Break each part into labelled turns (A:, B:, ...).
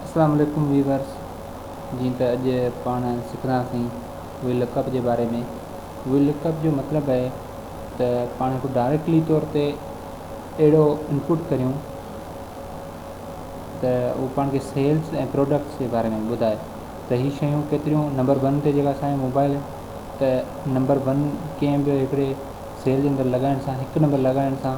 A: اسلام عليڪم ويورز جيئن ته اڄ پاڻ سکنداسين وي لڪ اپ جي باري ۾ وي لڪ اپ جو مطلب اهي ته پاڻ هڪ ڊائريڪٽلي طور تي اهڙو انپوٽ ڪريون ته اهو پاڻ کي سيلز ۽ پروڊڪٽس جي باري ۾ ٻڌائي ته هي شيون ڪيتريون نمبر ون تي جيڪا اسانجا موبائل ته نمبر ون ڪنهن به هڪڙي سيل جي اندر لڳائڻ سان هڪ نمبر لڳائڻ سان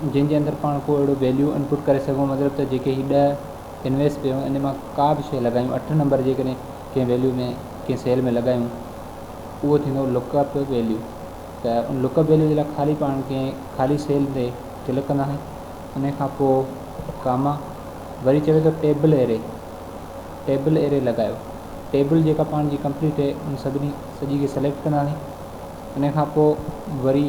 A: جنهن جي اندر پاڻ ڪو اهڙو ويليو انپٽ ڪري سگهون مطلب ته جيڪي هي ڏهه انويس پي هون ان مان ڪا به شئي لڳايون اٺ نمبر جيڪڏهن ڪنهن ويليو ۾ ڪنهن سيل ۾ لڳايون اهو ٿيندو لڪ اپ ويليو ته ان لڪ اپ ويليو جي لاء خالي پاڻ کي خالي سيل تي ڪلڪ ڪنداسين ان کان پوء ڪاما وري چوي ٿو ٽيبل اري ٽيبل اري لڳايو ٽيبل جيڪا پاڻ جي ڪمپليٽ هي ان سڀني سڄي کي سليڪٽ ڪنداسين ان کان پوء وري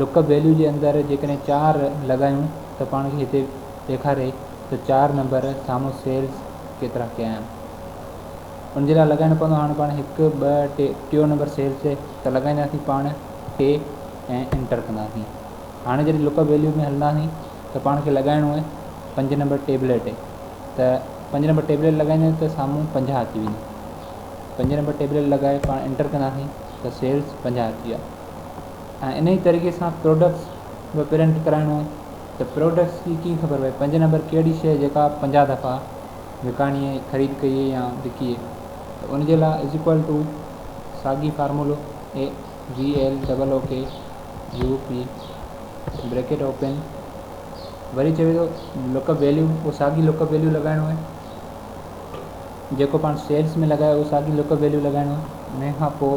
A: لڪ ويليو جي اندر جيڪڏهن چار لڳايون ته پاڻ کي هتي ڏيکاري ته چار نمبر سامهون سيلز ڪيترا ڪيا آهن ان جي لاء لڳائڻو پوندو هاڻي پاڻ هڪ ٻه ٽي ٽيو نمبر سيلز تي ته لڳائينداسين پاڻ ٽي ۽ انٽر ڪنداسين هاڻي جڏهن لڪ ويليو ۾ هلنداسين ته پاڻ کي لڳائڻو آهي پنج نمبر ٽيبليٽ تي ته پنج نمبر ٽيبليٽ لڳائينداسين ته سامهون پنجاهه اچي ويندو پنج نمبر ٽيبليٽ لڳائي پاڻ انٽر ڪنداسين ته سيلز پنجاهه اچي ويا ۽ انهي طريقي سان پروڊڪٽس به پرنٽ ڪرائڻو آهي ته پروڊڪٽس جي ڪيئن خبر پئي پنج نمبر ڪهڙي شئي جيڪا 50 دفعا وڪاڻي ۽ خريد ڪئي ۽ يا وڪي ته ان جي لاء از ايڪوال ٽو ساڳي فارمولو بريڪيٽ اوپن وري چوي ٿو لڪ اپ ويليو اهو ساڳي لڪ اپ ويليو لڳائڻو آهي جيڪو پاڻ سيلز ۾ لڳايو اهو ساڳي لڪ اپ ويليو لڳائڻو آهي انهي کان پوء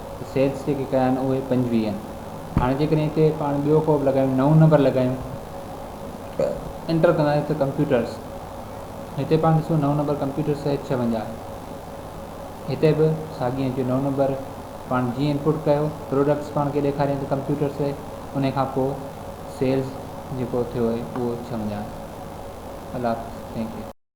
A: سيلز جيڪي ڪيا آهن اهي پنجويهه هاڻي جيڪڏهن هتي پاڻ ٻيو ڪوڊ لڳايون نئون نمبر لڳايون انٽر ڪنداسين ته ڪمپيوٽرس هتي پاڻ ڏسو نئون نمبر ڪمپيوٽرس ايڇ ڇاونجاهه هتي به ساڳي هن جو نئون نمبر پاڻ جيئن انپوٽ ڪيو پروڊڪٽس پاڻ کي ڏيکاريان ته ڪمپيوٽرس ان کان پوء سيلز جيڪو ٿيو اهي اهو ڇاونجاهه الله حافظ ٿينڪ يو